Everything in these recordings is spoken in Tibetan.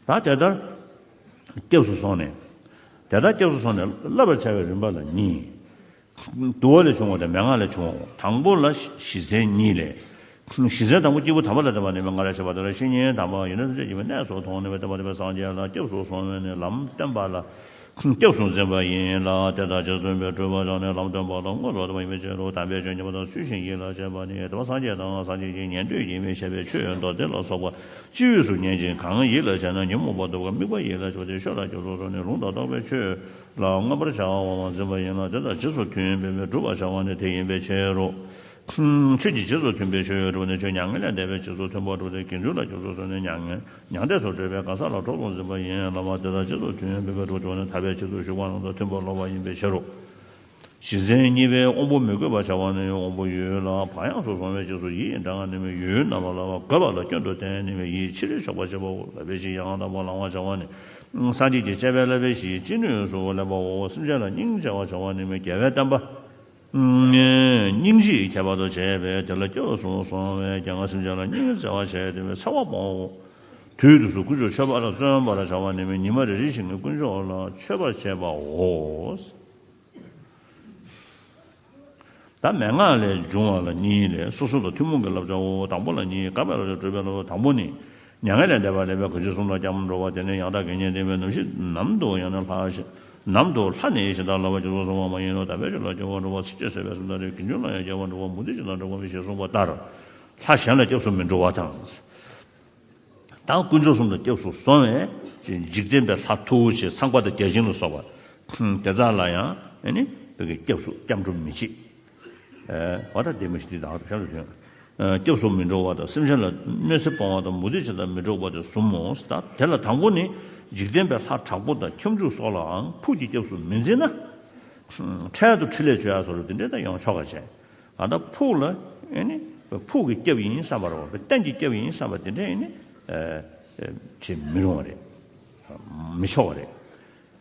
ད་དེ་ལྟར་སྐྱབས་སུ་སོང་ནས། དེ་ལྟར་སྐྱབས་སུ་སོང་ནས་བསླབ་པར་བྱ་བའི་རིམ་པ་ལ་གཉིས། དུ་བ་ལས་བྱུང་བ་དང་མན་ངག་ལས་བྱུང་བའོ། དང་པོ་ལ་བཞི་ཚན་གཉིས་ལས། བཞི་ཚན་དང་པོ་སྐྱེས་བུ་དམ་པ་ལ་བསྟན་པ་ནི་མན་ངག་རེ་ཞིག་པ་དང་རེ་ཞིག་ཉིད་དམ་པའང་ཡིན་ནོ་ཐམས་ཅད་ཀྱི་མི་གནས་སོ་མཐོང་ནས་མི་སྟོན་པ་དེ་བས་སངས་རྒྱས་ལ་སྐྱབས་སུ་སོང་བས་ནི་ལམ་བསྟན་པ་ལ། སྐྱབས་སུ་འཛིན་པ་ཡིན་ལ་དེ་དག་རྗེ་བཙུན་པའི་སྤྲུལ་པ་ཆགས་ནས་ལམ་སྟོན་པ་དང་དངོས་སུ་བསྟོད་པ་ཡིན་པའི་ཕྱིར་རོ། དམ་པའི་ཆོས་ཉན་པ་དང་ཚུལ་བཞིན་ཡིད་ལ་བྱེད་པ་ནི་དེ་བ་སངས་རྒྱས་དང་སངས་རྒྱས་ཀྱི་ཉན་ཐོས་ཀྱིས་མི་བྱེད་པའི་ཆོས་མདོ་སྡེ་ལ་སོགས་པ་ཅི་ཡོད་སུ་ཉན་ཅིང་གང་ཡིད་ལ་བྱས་ན་ཉོན་མོངས་པ་དུབ་ཀ་དམིགས་པ་ཡིད་ལ་བྱེད་པ་སྟེ་ཤོ་ལ་སྐྱབས་སུ་སོང་ནས་ལུང་དང་རྟོགས་པའི་ཆོས་ལ་མངོན་པར་བྱ་བའང་འཛིན་པ་ཡིན་ལ་དེ་དག་རྗེས་སུ་མཐུན་པའི་བུ་བསྒྲུབ་པར་བྱ་བ་ནི་དེ་ཡིན་པའི་ཕྱིར་རོ། ཆོས་ཀྱི་རྗེས་སུ་མཐུན་པའི་ཆོས་གྲུབ་ནས་ཆོས་མྱ་ངན་ལས་འདས་པའི་རྗེས་སུ་མཐུན་པ་གྲུབ་སྟེ་དགེ་འདུན་ལ་སྐྱབས་སུ་སོང་ནས་མྱ་ངན་མྱང་འདས་སུ་བགྲོད་པའི་གང་ཟག་ལ་གྲོགས་སུ་འཛིན་པ་ཡིན་ལ་བ་དེ་དག་རྗེས་སུ་མཐུན་པའི་བགྲོད་བྱུང་ནས་ཐར་པའི་ཆེད་དུ་ཞུགས་པ་རྣམས་དང་མཐུན་པར་ལོག་པ་ཡིན་པའི་ཕྱིར་རོ། གཞི་མཚན་གཉིས་པའི་དབང་པོ་མི་དགོས་པར་བྱ་བ་ནི་དབང་པོ་ཡོད་ལ་བག་ཡངས་སུ་སོང་བའི་རྗེས་སུ་ཡིད་ཡི་འདྲ་ངག་ནི་མི་ཡུལ་རྣམ་པ་ལ་བ་དགོས་པ་ལ་སྐྱོན་དུ་བསྟན་ནི་མི་ཡིས་ཕྱི་རོལ་ཆོག་པར་བྱེད་པའོ་ལ་བའི་གཞི་ཡང་དག་པར་ལང་བར་བྱ་བ་ནི་སངས་རྒྱས་ཀྱི་སྤྱད་པའི་ལ་བའི་གཞིའི་ཅི་ནུས་སུ་སླེབ་པའོ་སེམས་ཅན་ལ་སྙིང་རྗེ་བར་བྱ་བ་ནི་མི་དགེ་བའི་བསྟན་པ། སྙིང་རྗེའི་ཁྱད་པར་དུ་བྱས་པས་དེ་ལ་སྐྱོ་གསུངས་སོང་བས་རྒྱ་ངག་སེམས་ཅན་ལ་སྙིང་རྗེ་བརྩེ་བ་བྱས་ཏེ་བའི་ཚེ་བ་སྤོང་ངོ། དུས་དུས་སུ་ཀུན་སྤྱོད་མཆོད་པ་ལ་བརྩོན་པར་བྱ་བ་ནི་མི་ཉི་མ་རེ་རེ་ཞིག་ནས་དཀོན་མཆོག་ལ་མཆོད་པར་བྱེད་པའོ། བདག་མེད་སྔགས་ལས་འབྱུང་བ་ལ་གཉིས་ལས་སོ་སོ་ལ་ཐུན་མོང་གི་བསླབ་བྱའོ། དང་པོ་ལ་གཉིས་དགག་པའི་བསླབ་བྱ་སྤྲོས་པའི་བསླབ་བྱ་དང་པོ་ནི། མྱ་ངན་ལས་འདས་པ་རེད་པས་གོ་ཆོད་གསུང་དང་སྐྱབས་འགྲོ་བ་དེ་ནི་ཡང་དག་གི་གཉེན་སྒྲིག་པའི་ནམ་ཞིག་ནམ་དུ་ཡང་ན་ལྷག་ཞིག་ནམ་དུ་ལྷ་ནི་ཡིད་བཞིན་དག་ལ་བ་རྒྱུ་ཚོགས་བཟུང་བ་མ་ཡིན་ནོ་ད་ཕལ་ཆེར་ལ་སྐྱོབ་བར་འགྲོ་བ་ཚིགས་བཅད་གསལ་བས་སུམ་རྟགས་རེ་དགེ་འདུན་ལ་ཡང་སྐྱབས་བར་འགྲོ་བ་མུ་ཏིག་ཅིག་དང་འགྲོ་གོ་མི་ཤེས་གསུངས་པ་ལྟར། ལྷ་གཞན་ལ་སྐྱབས་སུ་མི་འགྲོ་བ་དང། དང་དཀོན་མཆོག་གསུམ་ལ་སྐྱབས་སུ་སོང་བས་ཅི་འཇིག་རྟེན་པའི་ལྷ་མཐུ་བོ་ཆེ་ཚངས་པ་དང་བརྒྱ་བྱིན་ལ་སོགས་པ། དེ་དག་ལ་ཡང་ནི། སྐྱབས་སུ་སྐྱབས་འགྲོ་མི་བྱེད། བ་དང་ལྡན་པ་ཞིག་འདི་དག་ཏུ་བྱང་དུ་ཐོན། སྐྱབས་སུ་མི་འགྲོ་བ་དང་སེམས་ཅན་ལ་གནོད་འཚེ་སྤང་བ་དང་མུ་སྟེགས་བྱེད་དང་མི་སྒྲོགས་པ་དེ་གསུམ་མོ། དེ་ལ་དང་པོ་ནི། འཇིག་རྟེན་པའི་ལྷ་དྲག་པོ་དང་ཁྱབ་འཇུག་སོགས་ལའང་ཕུགས་ཀྱི་སྐྱབས་སུ་མི་འཛིན་ན། འཕྲལ་དུ་ཕྲིན་ལས་བཅོལ་ཡང་སོགས་ལས་དེ་འདྲས་དང་ཡང་ཆོ་ག་བྱེད། ད་ཕུགས་ལ། ཕུགས་ཀྱི་སྐྱབས་ཡིན་བསམ་པར་བ་གཏན་གྱི་སྐྱབས་ཡིན་བསམ་པ་དེ་འདྲས། བྱེད་མི་རུང་བ་རེད། མི་ཆོག་པ་རེད།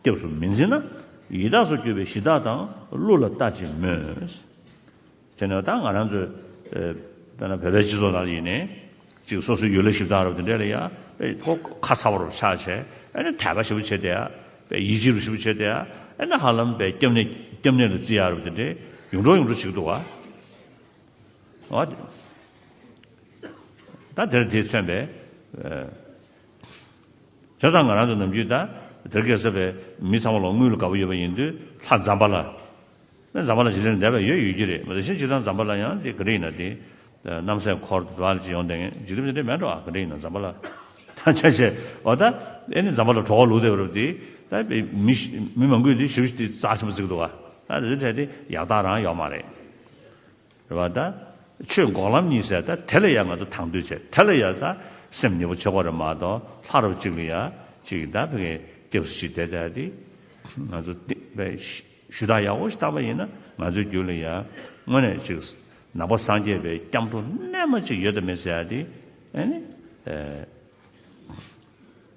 སྐྱབས་སུ་མི་འཛིན་ན་ཡི་དྭགས་སུ་གྱུར་པའི་གཞི་བདག་དང་ཀླུ་ལ་ལྟ་ཅི་སྨོས། དེ་ནས་ད་ང་རང་ཚོའི་དཔེར་ན་བོད་པའི་སྤྱི་ཚོགས་ནང་ཡིན་ནའི་ཅིག་སོ་སོའི་ཡུལ་ལ་གཞི་བདག་རབ་དེ་འདྲས་ལ་ཡ་དཔེ་ཁོ་ཁ་ཚ་བོ་རུ་ཆགས་ཆེ་ཨེ་ན་དད་པ་ཞིབ་པོ་བྱེད་དེ་ཡ་དཔེ་ཡིད་ཆེས་རུ་ཞིབ་པོ་བྱེད་དེ་ཡ་ཨེ་ན་ཧ་ལམ་པའི་སྐྱབས་སྐྱབས་གནས་ལ་བརྩི་ཡ་རབ་དེ་འདྲས་ཡུང་འབྲོག་ཡུང་འབྲོག་བྱེད་ཀྱི་འདུག་ཨ། ད་དེར་དེས་མཚོན་པའི། བྱས་ཙང་ང་རང་ཚོ་ནམ་རྒྱུན་ད་དེར་གེ་སར་བས་མི་ཚང་མ་ལོག་དངུལ་ལ་དགའ་པོ་ཡོད་པ་ཡིན་དུས་ལྷ་འཛམ་པ་ལ། ལྷ་འཛམ་པ་ལ་ཞིག་ལས་ནི་འདས་པའི་ཡོད་ཡོད་ཀྱི་རེད་མ་གཏོགས་གཞན་ཅིག་དང་འཛམ་པ་ལ་ཡང་དེ་ག་འདྲ་ཡིན་ན་དེ། གནམ་སའི་འཁོར་དུ་དྭགས་ལ་ཅིག་ཡོང་བསྡད་ངེས་འཇིག་རྟེན་པའི་འདི་མེད་འགྲོ་ཨ་ག་འདྲ་ཡིན་ན་འཛམ་པ་ལ། ད་ཆ་བྱས་བ་ད་ཨེ་ནི་འཛམ་པ་ལ་གྲོགས་ལུགས་དེ་རུ་དེ་ད་བས་མི་མི་མང་གུས་དེ་ཞིབ་ཞིབ་དེ་རྩ་ཆེན་པོ་བརྩིགས་འདུག་ག་ད་དེ་ཚོའི་གྲས་དེ་ཡག་རྟགས་རང་ཡོག་མ་རེད། རེ་བ་དང། ཆོས་འགོག་ལམ་གཉིས་བསལ་དང་དེ་ལ་ཡང་ང་ཚོ་དང་དོད་བྱེད་དེ་ལ་ཡང་ས་སེམས་ཉེ་བོ་ཆོག་པ་རེད་མ་གཏོགས་ལྷ་རབས་གཅིག་ལ་ཡང་གཅིག་གི་དང་བོ་ངས་སྐྱབས་སུ་མཆི་དེ་ལྟ་སྟེ། ང་ཚོ་བསྟེན་པའི་ཞུ་དག་ཡག་པོ་ཞིག་བཏང་པ་ཡིན་ན་ང་ཚོའི་རྒྱུད་ལ་ཡང་དངོས་གནས་གཅིག་ནང་པ་སངས་རྒྱས་པའི་སྐྱབས་འགྲོ་རྣལ་མ་གཅིག་ཡོད་དམ་མེད་ཟེར་ཡ་དེ།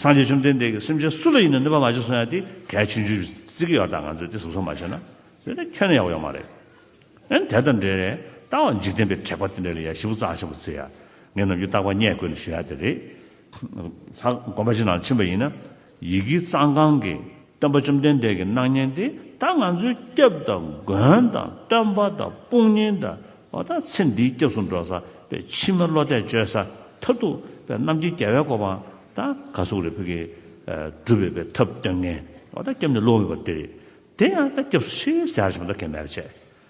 སངས་རྒྱས་བཅོམ་ལྡན་འདས་ཀྱིས་སེམས་ཅན་སུ་ལ་ཡིན་ནས་གནོད་པ་མ་བྱེད་གསུང་ཡང་དེ་གལ་ཆེན་བརྗོད་བརྩི་གི་ཡོད་ད་ང་ཚོས་དེ་གཟུགས་སོགས་མ་བྱས་ན་དེ་ནི་ཁྱོད་ནི་ཡག་པོ་ཡོད་མ་རེད་ཨན་དེ་དང་འབྲེལ་ནས་ད་འོ་འཇིག་རྟེན་པའི་དྲེགས་པ་དེ་འདྲ་ལ་ཡ་ཞི་བུ་བཙག་ཆེན་པོ་བརྩི་ཡ་ངས་ནམ་རྒྱུན་རྟག་པ་རྙེད་དགོས་ནས་ཞུ་ཡ་དེ་རེད། ལྷག་དགོན་པ་ཅིག་ནང་ཕྱིན་པ་ཡིན་ན་ཡི་གེའི་གཙང་ཁང་གི་སྟོན་པ་བཅོམ་ལྡན་འདས་ཀྱི་སྣང་བརྙན་འདི་ད་ང་ཚོའི་སྐྱབས་དང་མགོན་དང་སྟོན་པ་དང་དཔུང་གཉེན་ད་བ་ད་ཚེ་འདིའི་སྐྱབས་སུ་འགྲོ་ས་པའི་ཕྱི་མ་བློ་གཏད་བཅོལ་ས་ཐབས་རྡུགས་པའི་གནམ་གྱི་རྒྱལ་བའི་གོ་འཕང་ད་ག་གཟུགས་རེ་ཕུལ་གྱི་སྒྲུབ་བའི་པའི་ཐབས་སྟོན་མཁན་ད་སྐྱབས་འདི་བློ་འོས་པ་འདི་རེད་དེ་ཡང་ད་སྐྱབས་སུ་ཕྱིར་ཟེར་ཡག་བྱེད་པ་ད་གན་མེད་པ་བྱས།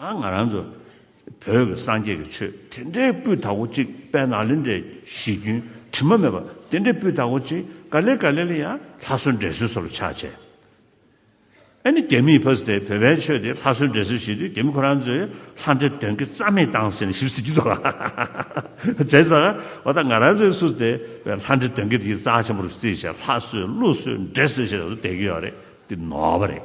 ད་ང་རང་ཚོ་བོད་ཀྱི་སངས་རྒྱས་ཀྱི་ཆོས་དེ་འདྲའི་སྤུས་དག་པོ་གཅིག་དཔལ་ནཱ་ལེནྡྲའི་གཞི་རྒྱུན་དྲི་མ་མེད་པ་དེ་འདྲའི་སྤུས་དག་པོ་གཅིག་ག་ལེར་ག་ལེར་ལ་ཡང་ལྷ་གསོལ་འདྲེ་གསོལ་སོགས་ལ་ཕྱག་བྱས། ཨ་ནི་རྒྱ་མིས་ཕ་སི་ཐན་བོད་པའི་ཆོས་དེ་ལྷ་གསོལ་འདྲེ་གསོལ་བྱེད་དུས་རྒྱ་མི་ཁོ་རང་ཚོའི་ལྷ་འདྲེ་དོན་གྱིས་རྩ་མེད་བཏང་ཟེར་ནས་ཞིབ་གཟིགས་རྒྱུ་དང། བྱས་ཙང་བ་ད་ང་རང་ཚོའི་སུ་སི་ཐན་བའི་ལྷ་འདྲེ་དོན་གྱིས་དེ་རྩ་ཆེན་པོར་བརྩིས་ཤིང་ལྷ་གསོལ་ཀླུ་གསོལ་འདྲེ་གསོལ་བྱས་ནས་སུ་སྡད་ཀྱི་ཡོད་རེད་འདི་ནོར་བ་རེད།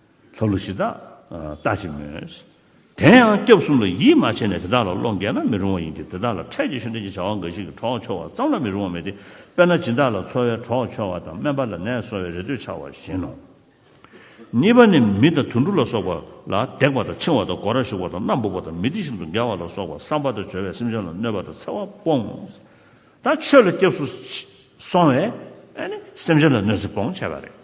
ལྷ་ཀླུ་གཞི་བདག་ལྟ་ཅི་སྨོས། དེ་ཡང་སྐྱབས་གསུམ་ལ་ཡིད་མ་ཆེས་ནས་དེ་དག་ལ་བློ་འགལ་ན་མི་རུང་བ་ཡིན་གྱི་དེ་དག་ལ་འཕྲལ་གྱི་ཤུན་ལྡན་གྱི་བྱ་བ་འགའ་ཞིག་གིས་གྲོགས་འཆོར་བ་ཙམ་ལ་མི་རུང་བ་མེད་དེ། དཔེར་ན་སྦྱིན་བདག་ལ་འཚོ་བའི་གྲོགས་འཆོར་བ་དང་སྨན་པ་ལ་ནད་གསོ་བའི་རེ་ལྟོས་འཆར་བ་བཞིན་ནོ། གཉིས་པ་ནི་མི་དང་དུད་འགྲོ་ལ་སོགས་པ་ལ་བརྡེག་པ་དང་འཆིང་བ་དང་སྒོ་ར་ཞུགས་པ་དང་སྣ་འབུག་པ་དང་མི་སྡིག་བཞིན་དུ་འགལ་བ་ལ་སོགས་པ་བསམ་པ་དང་བྱོལ་བའི་སེམས་ཅན་ལ་གནོད་པ་དང་འཚེ་བ་སྤོང་དང་ཆོས་ལ་སྐྱབས་སུ་སོང་བས་ནི་སེམས་ཅན་ལ་གནོད་འཚེ་སྤོང་བྱེད་པ་རེད།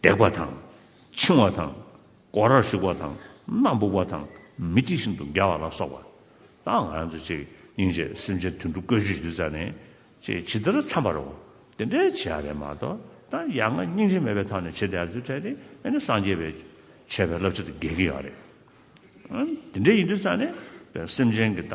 བརྡེག་པ་དང། འཆིང་བ་དང། སྒོ་རར་ཞུགས་པ་དང་སྣ་འབུག་པ་དང་མི་གཅིག་བཞིན་དུ་འགལ་བ་ལ་སོགས་པ་དང། ང་རང་ཚོ་གཅིག་ཡིན་ཞེས་སེམས་ཅན་དུད་འགྲོ་བཀོལ་སྤྱོད་ཞུ་ས་ནི་ཅེས་ཇི་ལྟར་འཚམ་པར་འོང་དེ་འདྲའི་བྱེད་ཡ་རེད་མ་གཏོགས་ད་ཡ་ང་སྙིང་རྗེ་མེད་པའི་ཐོག་ནས་བྱེད་དེ་ཡ་ཚུལ་ཕྲད་དེ་ཨེ་ནི་སངས་རྒྱས་པའི་ཆོས་པའི་བསླབ་བྱ་དང་འགལ་གྱི་ཡོད་རེད། འདི་འདྲའི་ཡིན་དུས་ས་ནི་སེམས་ཅན་གྱི་ད།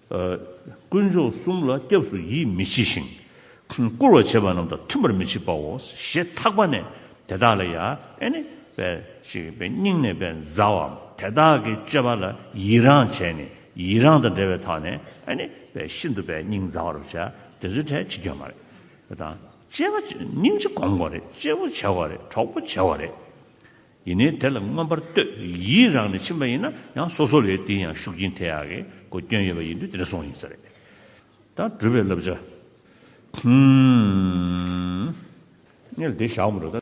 དཀོན་མཆོག་གསུམ་ལ་སྐྱབས་སུ་ཡིད་མི་མཆིས་ཤིང། བཀུར་བར་བྱེད་པ་རྣམས་དང་མཐུན་པར་མི་བྱེད་པའོ་ཞེས་ཐག་པ་ནས་དེ་དག་ལ་ཡནི། སྙིང་ནས་མཛའ་བ། དེ་དག་གི་སྤྱོད་པ་ལ་ཡི་རངས་བྱས་ནས་ཡི་རངས་དང་བྲལ་བའི་ཐག་ནས་ནི། ཤིན་ཏུ་སྙིང་མཛའ་བར་བྱ། དེ་ཚོའི་གྲས་ཕྱི་སྐྱོན་མ་རེད། དང། སྙིང་རྗེ་གོང་བ་རེད། སྐྱེས་བུ་བྱ་བ་རེད། གྲོགས་པོ་བྱ་བ་རེད། ཡིན་ནའི་དེ་ལ་མངོན་པར་བསྟོད་ཡིད་རང་ནས་ཕྱིན་པ་ཡིན་ན་ཡང་སོ་སོ་ལས་དེའི་ཡང་ཤུགས་རྐྱེན་དེ་ཡག་གི་གོ་སྐྱོན་ཡོད་པ་ཡིན་དུས་དེ་འདྲ་སོང་ཡིན་ས་རེད། ད་བགྲོད་པའི་བསླབ་བྱ། ཨུ་ཨུ། ངས་ལ་དེ་བཞག་མི་འགྲོ་ད།